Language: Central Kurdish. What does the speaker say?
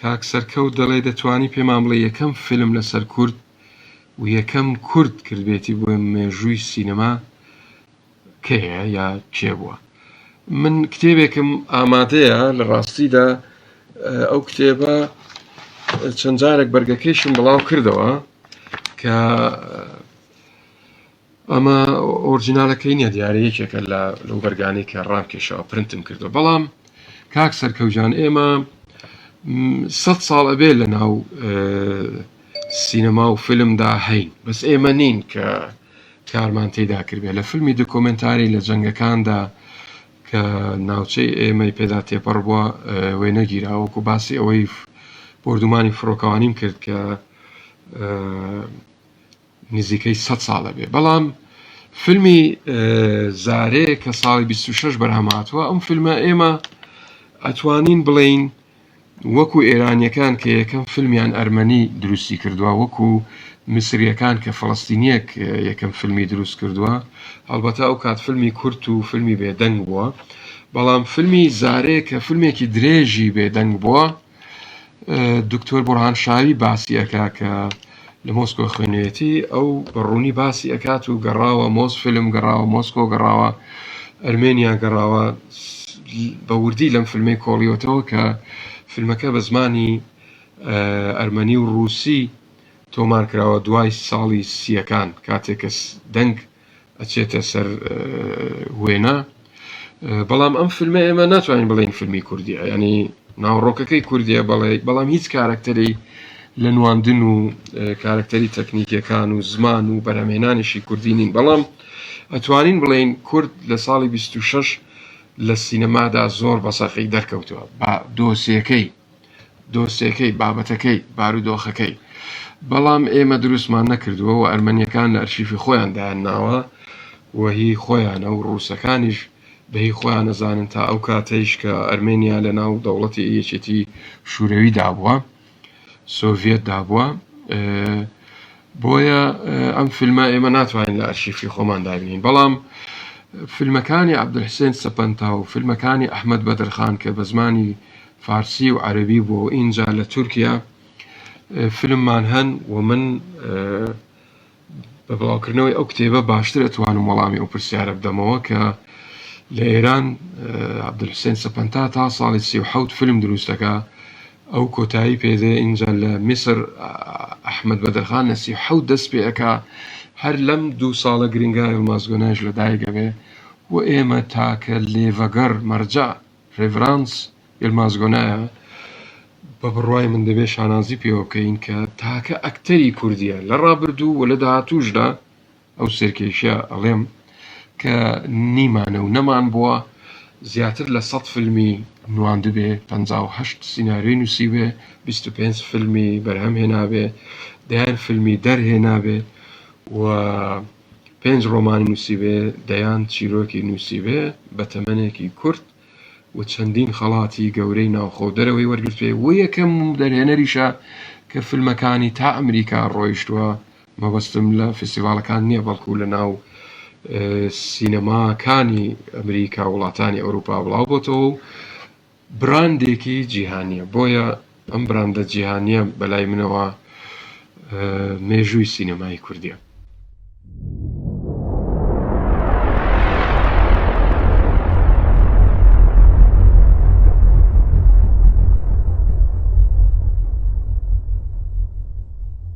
کاک سەرکەوت دەڵێ دەتوانی پێمان بڵێ یەکەم فیلم لەسەر کورد و یەکەم کورد کردبێتی بۆ مێژووی سینەما کەیە یا کێ بووە؟ من کتێبێکم ئامادەیە لە ڕاستیدا ئەو کتێبە چەند جارێک بەرگەکەیشم بڵاو کردەوە کە ئەمە ئۆرجینالەکەی نیە دیارە یەکێکە لە لەو بەرگانی کە ڕامکێشەوە پرنتم کردو بەڵام کاک سەرکەوجان ئێمە سە ساڵ ئەبێ لە ناو سینەما و فلمدا هەین بەس ئێمە نین کە کارمان تیدا کردبێت لە فیلمی دۆکۆمێنتاری لە جەنگەکاندا کە ناوچەی ئێمەی پێدا تێپەڕ بووە وێنەگیرا وەکو باسی ئەوەی بۆردومانی فڕۆکەوانیم کرد کە نزیکەی سە ساڵە بێ بەڵام فیلمی زارێ کە ساڵی 26 بەرهەماتوە ئەم فیلمە ئێمە ئەتوانین بڵین وەکو ئێرانیەکان کە یەکەم فیلمیان ئەرمەنی دروستی کردوە وەکو میسریەکان کە فەلەستینیەک یەکەم فیلمی دروست کردوە هەڵبەتە ئەو کات فیلمی کورت و فیلمی بێ دەنگ بوە بەڵام فیلمی زارێ کە فیلمێکی درێژی بێ دەنگ بوە دکتۆر بورهان شاوی باسی ئەکا کە لە مۆسکۆ خوێنوێتی ئەو بە ڕوونی باسی ئەکات و گەڕاوە مۆس فیلم گەڕاوە مۆسکۆ گەڕاوە ئەرمێنیا گەڕاوە بە وردی لەم فیلمی کۆڵیۆتەوە کە فیلمەکە بە زمانی ئەرمەنی و ڕووسی تۆمار کراوە دوای ساڵی سیەکان کاتێک کە دەنگ ئەچێتە سەر وێنا بەڵام ئەم فیلمە ئێمە ناتوانین بڵین فیلمی کوردی ینی ناوڕۆکەکەی کوردیە بەڵێ بەڵام هیچ کارەکتەری لە نواندن و کارەکتەری تەکنیکیەکان و زمان و بەرەمێنانیشی کوردی نین بەڵام ئەتوانین بڵین کورد لە ساڵی 26 لە سینەمادا زۆر بەسەخی دەرکەوتووە بە دۆسیەکەی دۆسێکەی، بابەتەکەی، بارودۆخەکەی. بەڵام ئێمە دروستمان نەکردووە و ئەرمەنیەکان لە ئەرشیفی خۆیان دایان ناوە و هی خۆیانە و ڕووسەکانیش بە هی خۆیان ئەزانن تا ئەو کاتەیش کە ئەرمێنیا لە ناو دەوڵەتی یەکێتی شورەوی دابووە، سۆڤیەت دابووە، بۆیە ئەم فیلمە ئێمە ناتوانین لە ئەرشیفی خۆمان دابینین بەڵام فیلمەکانی عبدحسێن سەپەنتا و فیلمەکانی ئەحمد بەدرخان کە بە زمانی فارسی و عەربی بۆ ئینجا لە تورکیا فیلممان هەن و من بە بڵاوکردنەوەی ئەو کتێبە باشتر ئەتوانم وەڵامی ئەو پرسیارە بدەمەوە کە لە ئێران عبدحسێن سەپەنتا تا ساڵی سی و حەوت فیلم دروستەکە ئەو کۆتایی پێ دێ ئینجا لە میسر ئەحمەد بەدرخان لە سی و حەوت دەست پێ ئەکا هەر لەم دوو ساڵە گرینگا یڵماز گۆنایش لە دایک ئەبێ و ئێمە تاکە لێڤەگەڕ مەرجەع ڕێڤرانس یڵماز گۆنایە بە بڕوای من دەبێ شانازی پێوە بکەین کە تاکە ئەکتەری کوردیە لە ڕابردوو و لە داهاتووشدا ئەو سەرکێشیە ئەڵێم کە نیمانە و نەمان بووە زیاتر لە سەد فیلمی نواندبێ پەنجا و هەشت سیناریۆی نووسیبێ بیست و پێنج فیلمی بەرهەم هێنابێ دەیان فیلمی دەرهێنابێ و پێنج ڕۆمانی نووسیبێ دەیان چیرۆکی نووسیبێ بە تەمەنێکی کورت و چەندین خەڵاتی گەورەی ناوخۆ دەرەوەی وەرگرتوێ و یەکەم دەرهێنەریشە کە فیلمەکانی تا ئەمریکا ڕۆیشتووە مەبەستم لە فیستیڤاڵەکان نیە بەڵکو لە ناو سینەماکانی ئەمریکا وڵاتانی ئەوروپا بڵاو بۆتەوە و براندێکی جیهانیە بۆیە ئەم براندە جیهانیە بەلای منەوە مێژووی سینەمای کوردیە